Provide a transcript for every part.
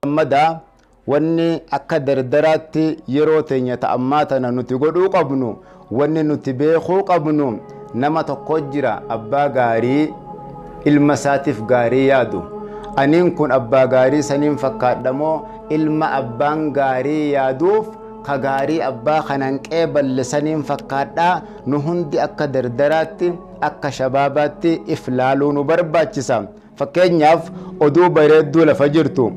gammadaa wanni akka dardaraatti yeroo teenya ta'ammaa tana nuti godhuu qabnu Wanni nuti beekuu qabnu nama tokko jira abbaa gaarii ilma isaatiif gaarii yaadu. Aniin kun abbaa gaarii saniin fakkaadha moo ilma abbaan gaarii yaaduuf ka gaarii abbaa kanan qeeballe saniin fakkaadhaa nu hundi akka dardaraatti akka shabaabaatti if laaluu nu barbaachisa. Fakkeenyaaf, oduu bareedduu lafa jirtu,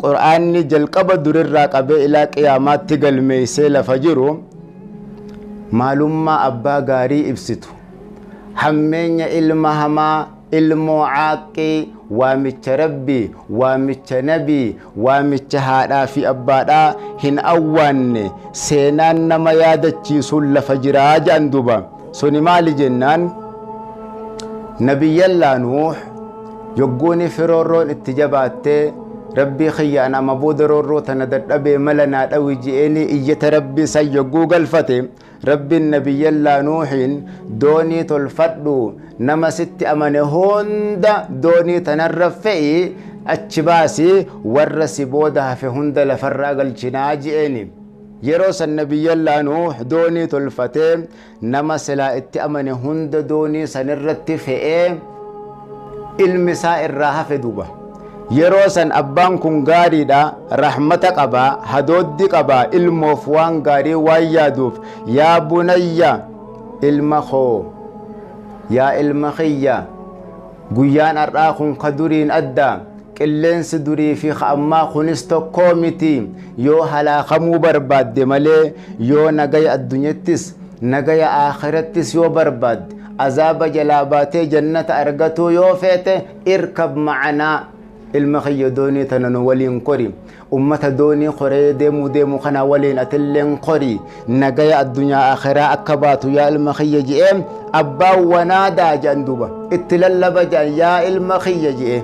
Qur'aanni jalqaba durirraa qabee ilaa qiyaamaatti galmeeysee lafa jiru, maalummaa abbaa gaarii ibsitu, hammeenya ilma hamaa, ilmoo caaqqii, waamicha Rabbii, waamicha Nabii, Waamicha haadhaa fi abbaadhaa hin awwaanne seenaan nama yaadachiisuun lafa jira jedhan duuba. Suni maali jennaan Nabiyyallaa Nuuh yogguuni firoorroon itti jabaatte Rabbii kiyya an ama booda roorroo tana dadhabee mala naa dhawi je'eenii iyyata Rabbii san yogguu galfate Rabbiin Nabiyyallaa Nuuhiin doonii tolfadhuu nama sitti amane hunda doonii tanarra fe'i achi baasi warra si booda hafe hunda lafarraa galchinaa je'eeni. Yeroo san Nabiyyallaa Nuuh doonii tolfatee nama silaa itti amane hunda doonii sanirratti fe'ee, ilmi isaa irraa hafe duuba yeroo san abbaan kun gaariidha rahmata qaba hadooddi qaba ilmoof waan gaarii waan yaaduuf yaa bunayya ilma koo yaa ilma kiyya guyyaan har'aa kun ka duriin adda qilleensi durii fi ka ammaa kunis tokkoo miti yoo halaakamuu barbaadde malee yoo nagaya addunyattis nagaya akhirattis yoo barbaadde Azaaba jalaa baatee jannata argatuu yoo feete irkab ma'anaa ilma kiyya doonii tana nu waliin kori ummata doonii koree deemuu deemu kana waliin atilleen kori nagaya addunyaa akhiraa akka baatu yaa ilma kiyya je'ee abbaan wanaadaa je'an duuba itti lallaba je'an yaa ilma kiyya je'ee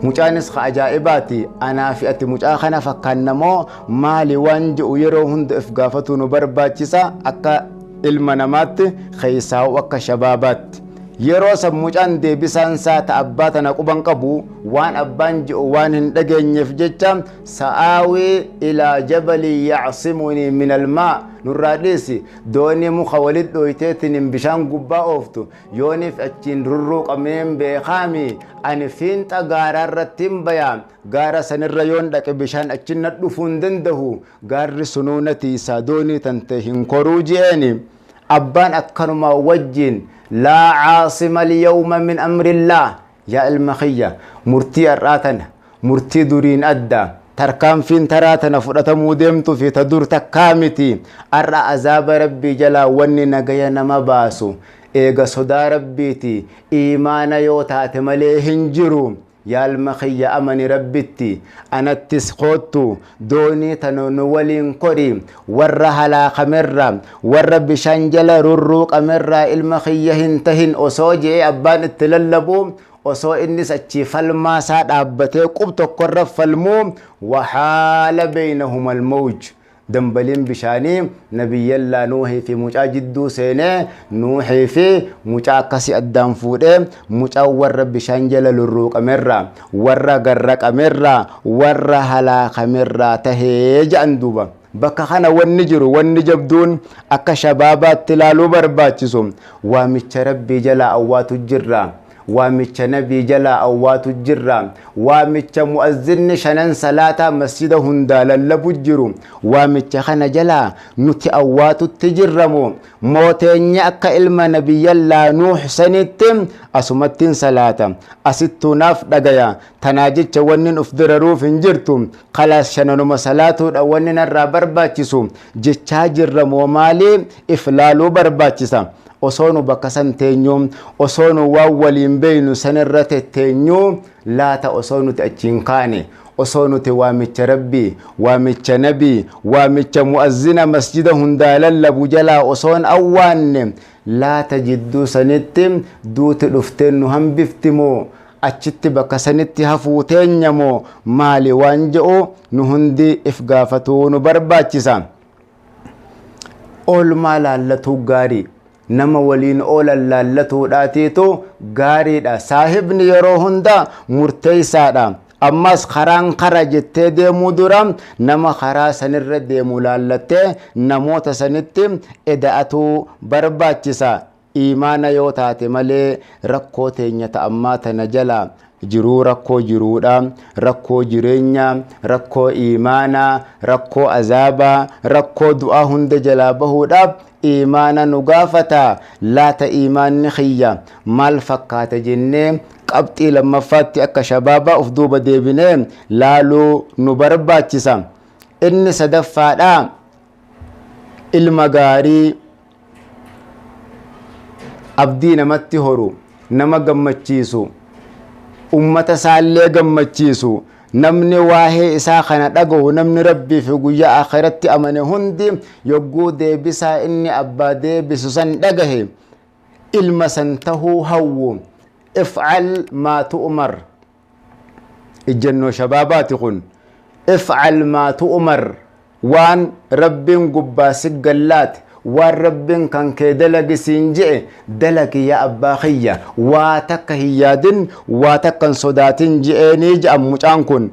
mucaanis ka ajaa'ibaati anaa fi ati mucaa kana fakkaanna moo maali waan je'u yeroo hunda if gaafatuu nu barbaachisa akka ilma namaatti keessaa'u akka shabaabaatti yeroo san mucaan deebisaan isaa ta abbaa tana quban qabu waan abbaan ji'u waan hin dhageenyeef jecha sa'aawii ilaa jabalii yacsimunii min almaa nurraa dhiisi doonii muka walit dhooyteetiniin bishaan gubbaa ooftu yooniif achiin rurruuqameen beekaami ani fiinxa gaaraa irrattiin bayaa gaara sanirra yoon dhaqe bishaan achin nadhufuu hin dandahu Gaarri sunuu na tiisaa doonii tante hin koruu je'eeni. Abbaan akkanumaa wajjiin laa caasima alyawma min amrillaah yaa ilma kiyya murtii har'aa tana murtii duriin adda tarkaanfiin taraa tana fudhatamuu deemtu fi ta dur takkaa miti har'a azaaba rabbii jalaa wanni nagaya nama baasu eega sodaa rabbiiti iimaana yoo taate malee hin jiru Yaalma kiyya amani Rabbitti, anattis koottu, doonii tana nu waliin kori, warra halaakamerra, warra bishaan jala rurruuqamerraa ilma kiyya hin tahin osoo je'ee abbaan itti lallabuu, osoo innis achii falmaa isaa dhaabbatee qub tokkorra falmuu, wahaala beeynahumal mawj, Dambaliin bishaanii Nabiyyallaa Nuuhii fi mucaa jidduu seenee Nuuhii fi mucaa akkasii addaan fuudhee mucaan warra bishaan jala lurruuqamerraa warra garraqamerraa warra halaakamerraa tahee ja'an duuba. Bakka kana wanni jiru wanni jabduun akka shabaabaatti laaluu barbaachisu waamicha Rabbii jalaa awwaatu jirra. Waamicha Nabii jalaa awwaatu jirra. Waamicha mu'azzinni shanan salaataa masjida hundaa lallabu jiru. Waamicha kana jalaa nuti awwaatutti jirra moo? Moo teenyee akka ilma Nabiyyallaa Nuuh sanitti asumattin salaata. Asittuu naaf dhagaya. Tanaa jecha wannin uf dararuuf hin jirtu. Khalaas shananuma salaatuudha wanni narraa barbaachisu. Jechaa jirra moo maali? If laaluu barbaachisa. Osoo nu bakka san teenyuu, osoo nu waan waliin beeynu san irra tetteenyuu, laata osoo nuti achi hin kaane, osoo nuti waamicha Rabbii, waamicha Nabii, waamicha mu'azzina masjida hundaa lallabu jalaa osoo hin awwaanne, laata jidduu sanitti duuti dhuftee nu hambifti moo, achitti bakka sanitti hafuu teenya moo maali waan je'u nu hundi if gaafatuu nu barbaachisa. Oolmaa laallatuu gaarii nama waliin oolan laallatuudhaateetu gaariidha. Saahibni yeroo hunda murteessaadha. Ammas karaan kara jettee deemuu dura nama karaa sanirra deemu laallattee namoota sanitti eda'atuu barbaachisa. Iimaana yoo taate malee rakkoo teenya ta ammaa tana jala jiruu rakkoo jiruudha, rakkoo jireenya, rakkoo iimaana, rakkoo azaaba, rakkoo du'aa hunda jalaa bahuudhaaf iimaana nu gaafata. Laata iimaanni kiyya maal fakkaata jennee qabxii lammaffaatti akka shabaabaa of duuba deebinee laaluu nu barbaachisa. Inni sadaffaadha ilma gaarii abdii namatti horu nama gammachiisu ummata isaallee gammachiisu namni waa'ee isaa kana dhaga'u namni rabbii fi guyyaa akhiratti amane hundi yogguu deebisaa inni abbaa deebisu san dhagahe ilma san tahuu hawwu ifcal maa tu'umar ijjannoo shabaabaati kun ifcal maa tu'umar waan rabbiin gubbaa si gallaate waan rabbiin kan kee dalagi siin je'e dalagi yaa abbaa kiyya waa takka hin yaadin waa takka hin sodaatin je'eenii ja'an mucaan kun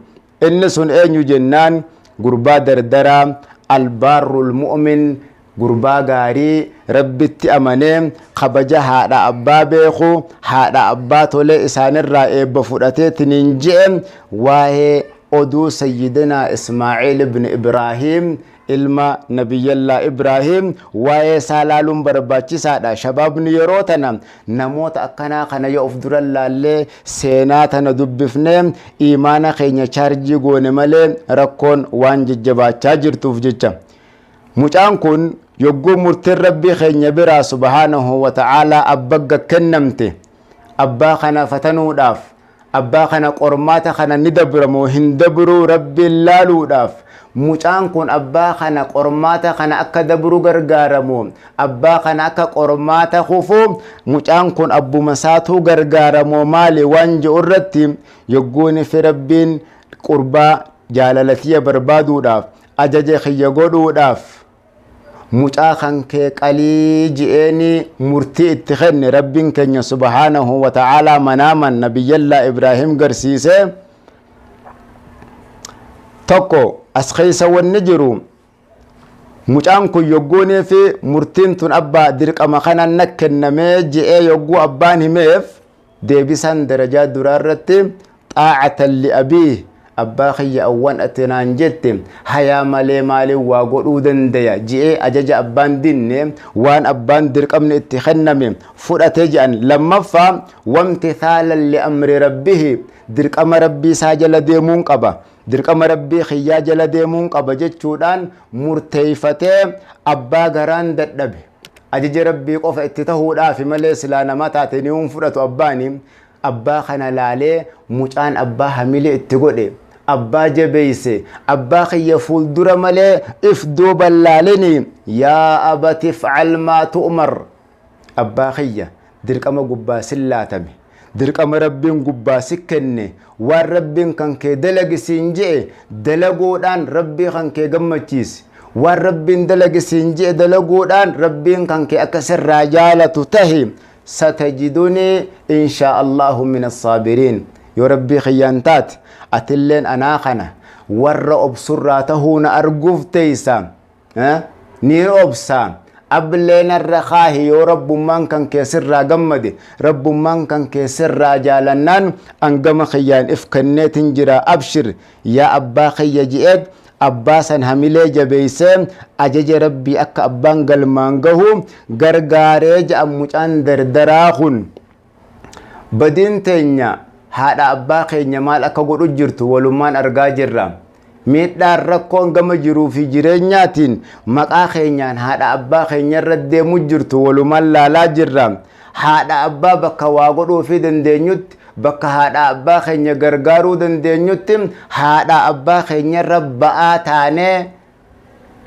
inni sun eenyu jennaan gurbaa dardaraa albaarrul mu'min gurbaa gaarii rabbitti amanee kabaja haadha abbaa beeku haadha abbaa tolee isaanirraa eebba fudhateetiniin je'e waa'ee oduu sayyidinaa ismaaciil ibn ibraahiim ilma nabiyyallaa ibraahiim waa'ee isaa laaluun barbaachisaadha shabaabni yeroo tana namoota akkanaa kana yoo of dura laallee seenaa tana dubbifnee iimaana keenya chaarjii goone malee rakkoon waan jajjabaachaa jirtuuf jecha Mucaan kun yogguu murtiin Rabbii keenya biraa subhaanahu wa ta'aalaa abbagga kennamte abbaa kana fatanuudhaaf, abbaa kana qormaata kana ni dabra moo hin dabruu Rabbiin laaluudhaaf, mucaan kun abbaa kana qormaata kana akka dabru gargaara moo abbaa kana akka qormaata kufu mucaan kun abbuma isaatuu gargaara moo maali waan je'u irratti yogguunifi Rabbiin qurbaa jaalala tiyya barbaaduudhaaf ajaje kiyya godhuudhaaf mucaa kan kee qalii ji'eeni murtii itti kenne rabbiin keenya subhaanahu wa ta'aalaa manaaman nabiyyallaa ibraahim garsiise tokko as keessa wanni jiru mucaan kun yogguunii fi murtiin tun abbaa dirqama kanan na kennamee ji'ee yogguu abbaan himeef deebisaan darajaa duraa irratti xaacatan li'abii abbaa kiyya awwan ati naan jette hayaa malee maaliin waa godhuu dandaya ji'ee ajaja abbaan dinne waan abbaan dirqamni itti kenname fudhate jedhan lammaffaa wamti thaalan li'amri rabbihi dirqama rabbii isaa jala deemuun qaba dirqama rabbii kiyyaa jala deemuun qaba jechuudhaan murteeyfatee abbaa garaan dadhabe Ajaja Rabbii qofa itti tahuudhaafi malee silaa namaa taate ni hin fudhatu abbaani. Abbaa kana laalee mucaan abbaa hamilee itti godhe. Abbaa jabeeyse. Abbaa kiyya fuuldura malee if duuban laalini. Yaa abati fa'al maa tu'umar. Abbaa kiyya Dirqama gubbaa sin laatame. Dirqama Rabbiin gubbaa si kenne, waan Rabbiin kan kee dalagi siin je'e dalaguudhaan Rabbii kan kee gammachiisi. Waan Rabbiin dalagi siin je'e dalaguudhaan Rabbiin kan kee akka sirraa jaalatu tahi. Satajidunii inshaa Allaahu min assaabiriin. Yoo Rabbii kiyyaan taate atilleen anaa kana warra obsurraa tahuu na arguuf teeysa. ni obsa ablee narra kaahi yoo rabbummaan kan kee sirraa gammade rabbummaan kan kee sirraa jaalannaan angama kiyyaan if kenneetin jira abshir yaa abbaa kiyya ji'eet abbaa san hamilee jabeeysee ajaja rabbii akka abbaan galmaan gahu gargaaree ja'an mucaan dardaraa kun Badiin teenya haadha abbaa keenya maal akka godhu jirtu walummaan argaa jirra. Miidhaan rakkoon gama jiruu fi jireenyaatiin maqaa keenyaan haadha abbaa keenya irra deemu jirtu walumaan laalaa jirra. Haadha abbaa bakka waa godhuu fi dandeenyutti bakka haadha abbaa keenya gargaaruu dandeenyutti haadha abbaa keenya irra ba'aa taanee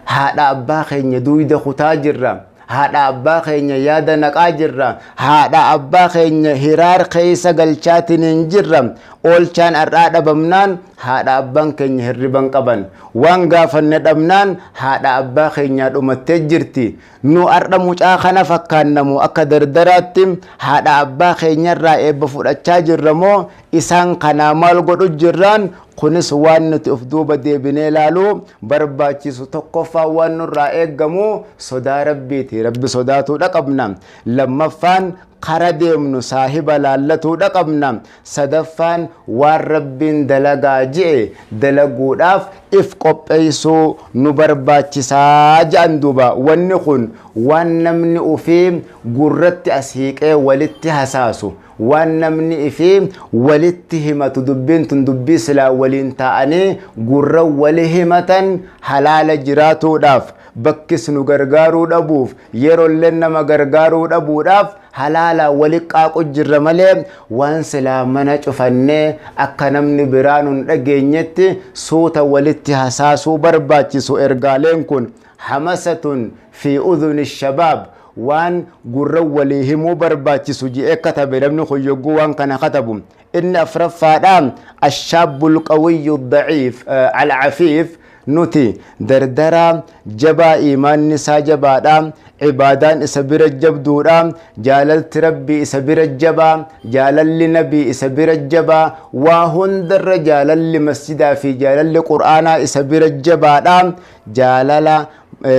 Haadha abbaa keenya duuyda kutaa jirra. Haadha abbaa keenya yaada naqaa jirra. Haadha abbaa keenya hiraar keessa galchaatiniin jirra. Oolchaan har'aa dhabamnaan haadha abbaan keenya hirriban qaban. Waan gaafanne dhabnaan haadha abbaa keenyaa dhumattee jirti. Nu har'a mucaa kana fakkaanna moo akka dardaraatti haadha abbaa keenyarraa eebba fudhachaa jirra moo isaan kanaa maal godhu jirra? Kunis waan nuti of duuba deebinee ilaaluu barbaachisu tokkoffaan waan nurraa eegamu sodaa rabbiiti. Rabbi sodaatuudha qabna. Lammaffaan kara deemnu saahiba laallatuudha qabna. Sadaffaan waan Rabbiin dalagaa je'e dalaguudhaaf if qopheeysuu nu barbaachisaa je'an duuba wanni kun waan namni ufii gurratti as hiiqee walitti hasaasu waan namni ifii walitti himatu dubbiin tun dubbii silaa waliin taa'anii gurra wali himatan halaala jiraatuudhaaf bakkis nu gargaaruu dhabuuf Yerollen nama gargaaruu dhabuudhaaf halaalaan waliqqaaqu jirra malee waan silaa mana cufannee akka namni biraa nun dhageenyetti suuta walitti hasaasuu barbaachisu ergaaleen kun hamasatun fi udhuni shabaab waan gurra walii himuu barbaachisu ji'ee katabe namni kun yogguu waan kana katabu Inni afraffaadha, Ash-shaabbu al-qawiyyu ad-da'iif, al-'afiif, Nuti, dardaraa, jabaa iimaanni isaa jabaadha, ibaadaan isa bira jabduudha, jaalalti Rabbii isa bira jabaa, jaalalli Nabii isa bira jabaa, waa hundarra jaalalli masjidaa fi jaalalli Qur'aanaa isa bira jabaadha, jaalala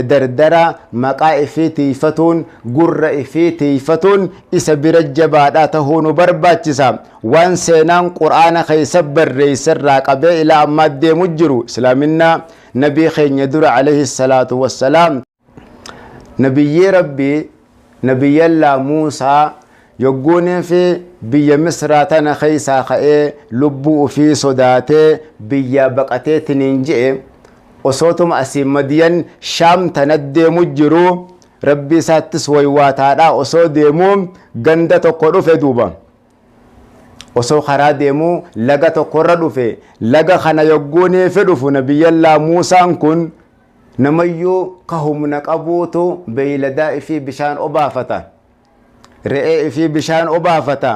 dardara maqaa ifii tiifatuun gurra ifii tiifatuun isa bira jabaadhaa tahuu nu barbaachisa waan seenaan qur'aana keessa barreeyse irraa qabee ilaa ammaa deemu jiru islaaminaa nabii keenya dura alayhi salaatu wassalaam nabiyyii rabbii Nabiyyallaa Muusaa yogguu neefi biyya Misraa tana keessaa ka'ee lubbuu ufii sodaatee biyyaa baqateetiniin je'e, osootuma asii Madiyan Shaam tana deemu jiruu, Rabbii isaattis woywaataadhaa osoo deemuu ganda tokko dhufe duuba. Osoo karaa deemuu laga tokkorra dhufe, laga kana yogguu neefi dhufu Nabiyyallaa Muusaan kun Namayyuu ka humna qabuutu beeyladaa ifii bishaan obaafata. Re'ee ifii bishaan obaafata.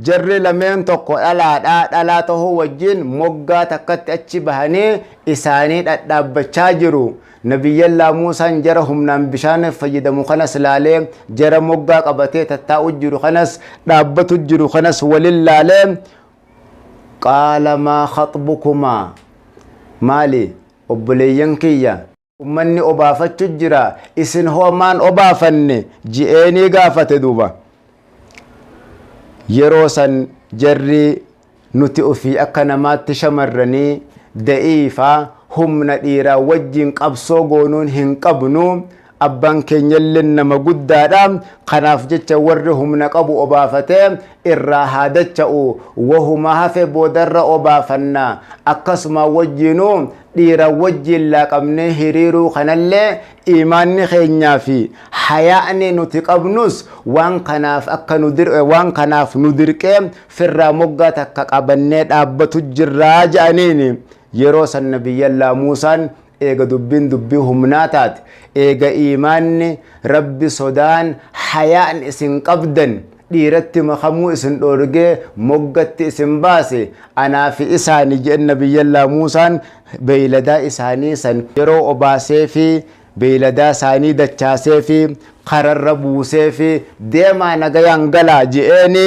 Jarri lameen tokko dhalaadha, dhalaa tahuu wajjin moggaa takkatti achi bahanii isaanii dhadhaabbachaa jiru. Nabiyyallaa Muusaan jara humnaan bishaan fayyadamu kanas laalee, jara moggaa qabatee tattaa'u jiru kanas, dhaabbatu jiru kanas walin laalee, qaala maa khaxbukumaa maali obboleeyyan kiyya ummanni obaafachu jira isin hoo maan obaafanne ji'eenii gaafate duuba yeroo san jarri nuti ofii akka namaatti shamarranii da'iifaa humna dhiiraa wajjiin qabsoo goonuun hin qabnu Abbaan keenyalleen nama guddaadha. Kanaaf jecha warri humna qabu obaafate irraa haa dacha'u. Wahuma hafe boodarra obaafanna. Akkasuma wajjiinuu dhiira wajjiin laaqamnee hiriiruu kanallee iimaanni keenyaa fi hayaa'ni nuti qabnus waan kanaaf akka nu dir waan kanaaf nu dirqee firraa moggaa takka qabannee dhaabbatu jirra ja'aniini. Yeroo san Nabiyyallaa Muusaan eega dubbiin dubbii humnaa taate eega iimaanni rabbi sodaan hayaan isin qabdan dhiiratti makamuu isin dhoorgee moggatti isin baase anaa fi isaani je'en nabiyyallaa muusaan beeyladaa isaanii san yeroo obaaseefi beeyladaa isaanii dachaaseefi kararra buuseefi deemaa nagayaan galaa je'eeni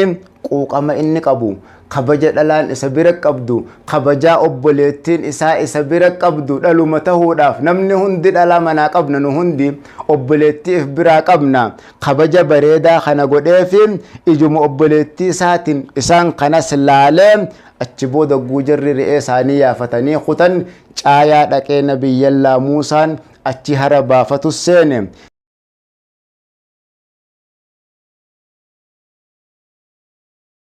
quuqama inni qabu Kabaja dhalaan isa bira qabdu, kabajaa obboleettiin isaa isa bira qabdu dhaluma tahuudhaaf namni hundi dhalaa manaa qabna nu hundi obboleettii if biraa qabna. Kabaja bareedaa kana godheefi ijuma obboleettii isaatiin isaan kanas laalee achi booda ogguu jarri re'ee isaanii yaafatanii kutan caayaa dhaqee Nabiyyallaa Muusaan achi hara baafatus seene.